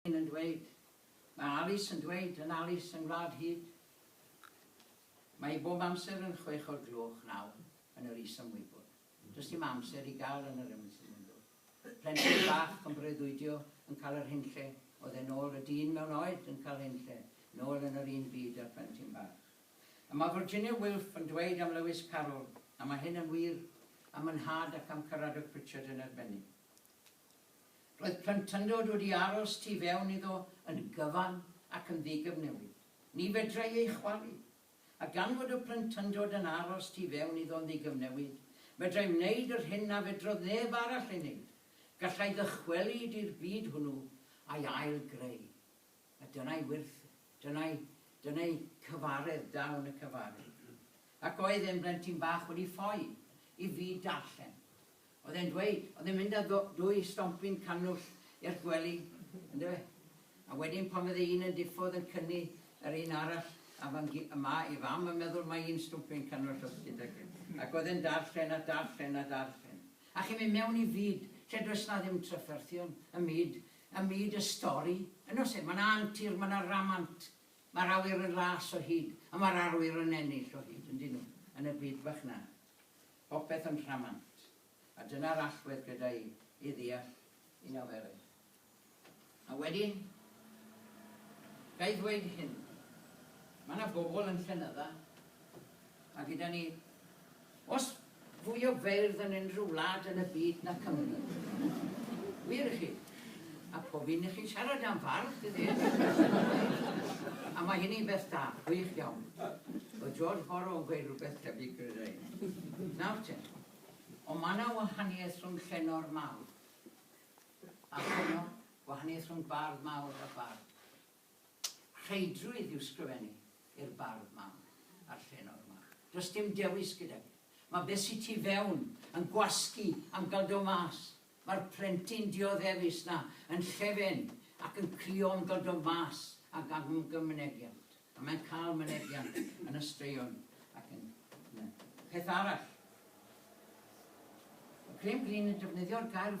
Hyn yn dweud, mae Alice yn dweud yn Alice yng Ngwlad Hud. Mae hi bob amser yn chwech o'r gloch naw yn yr is-ymwybod. Does dim amser i gael yn yr ymysgmundo. Plentyn bach yn breuddwydio yn cael yr hunlle oedd e nôl y dyn mewn oed yn cael hunlle nôl yn yr un byd a'r plentyn bach. A mae Virginia Wilf yn dweud am Lewis Carroll, a mae hyn yn wir am y nhad ac am Caradog Pritchard yn arbennig. Roedd plentyndod wedi aros tu fewn iddo yn gyfan ac yn ddigyfnewid. Ni fedrai ei chwalu. A gan fod y plentyndod yn aros tu fewn iddo yn ddigyfnewid, fedrai wneud yr hyn na fedrodd neb arall ei wneud, gallai ddychwelyd i'r byd hwnnw a'i ail-greu. A dyna'i wyrth, dyna'i, dyna'i cyfaredd, dawn y cyfaredd. Ac oedd e'n blentyn bach wedi ffoi i fi darllen. Oedd e'n dweud, oedd e'n mynd â dwy stompyn cannwll i'r gwely, yndyfe? A wedyn pan fydde un yn diffodd yn cynnu yr un arall, a fan gi- a mae ei fam yn meddwl mai un stwmpyn cannwll oedd gyda chi. Ac oedd e'n darllen a darllen a darllen. A chi'n mynd mewn i fyd lle does 'na ddim trafferthion, y myd Ym myd y stori, yn oes e, mae 'na antur, mae 'na ramant, mae'r awyr yn las o hyd, a mae'r arwyr yn ennill o hyd, yndyn nhw, yn y byd bach 'na. Popeth yn rhamant. A dyna'r allwedd, credaf i, i ddeall un nofelau. A wedyn, ga i ddweud hyn, mae 'na bobl yn llenydda, a gyda ni Oes fwy o feirdd yn unrhyw wlad yn y byd na Cymru? Wir i chi. A pob un i chi'n siarad am fardd, ti ddeall. A mae hynny'n beth da, gwych iawn. Oedd George Borrow yn gweud rhywbeth tebyg, credai. Nawr te. Ond mae yna wahaniaeth rhwng llenor mawr a llenor, gwahaniaeth rhwng bardd mawr a bardd. Rheidrwydd yw sgrifennu i'r bardd mawr a'r llenor mawr. Does dim dewis gyda fi. Mae beth sy tu fewn yn gwasgu am gael do mas. Mae'r plentyn dioddefus 'na yn llefen ac yn crio am gael do mas ac am gael mynegiant. A mae'n cael mynegiant yn y straeon ac yn y peth arall. Mae Graham Greene yn defnyddio'r gair